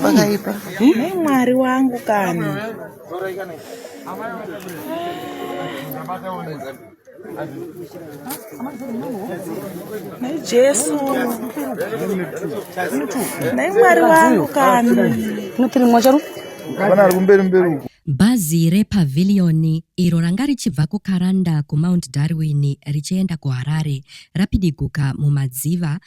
Pakaipa. Mwari wangu kani. Naye Jesu. Naye Mwari wangu kani. Notiri mwacharu. Bana ari kumberi mberi uko. Bhazi rePavilion iro ranga richibva kuKaranda kuMount Darwin richienda kuHarare rapidiguka mumadziva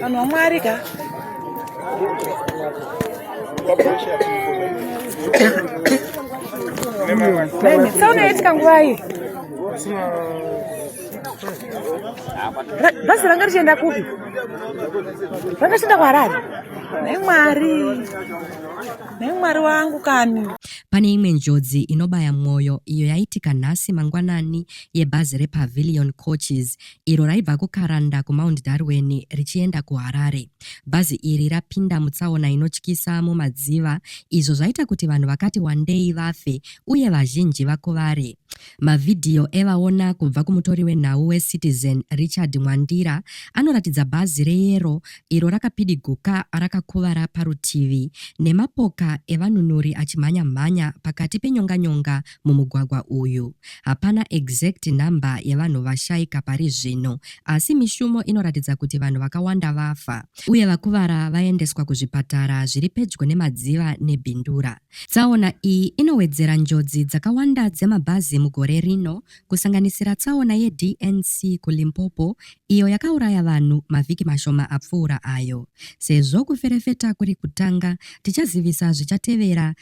vanhu vamwari ka saunoitika nguvai bhazi ranga richienda kupi ranga richienda kuharare nhai mwari nhai mwari wangu kani pane imwe njodzi inobaya mwoyo iyo yaitika nhasi mangwanani yebhazi repavilion coaches iro raibva kuKaranda kuMount Darwin richienda kuHarare. Bhazi iri rapinda mutsaona inotyisa mumadziva izvo zvaita kuti vanhu vakati wandei vafe uye vazhinji vakuvare. Mavhidhiyo evaona kubva kumutori wenhau weCitizen Richard Mwandira anoratidza bhazi reyero iro rakapidiguka rakakuvara parutivi nemapoka evanunuri achimhanya-mhanya pakati penyonganyonga mumugwagwa uyu. Hapana exact number yevanhu vashaika pari zvino asi mishumo inoratidza kuti vanhu vakawanda vafa uye vakuvara vaendeswa kuzvipatara zviri pedyo nemadziva nebindura. Tsaona iyi inowedzera njodzi dzakawanda dzemabhazi mugore rino kusanganisira tsaona yeDNC kuLimpopo iyo yakauraya vanhu mavhiki mashoma apfuura ayo. Sezvo kuferefeta kuri kutanga, tichazivisa zvichatevera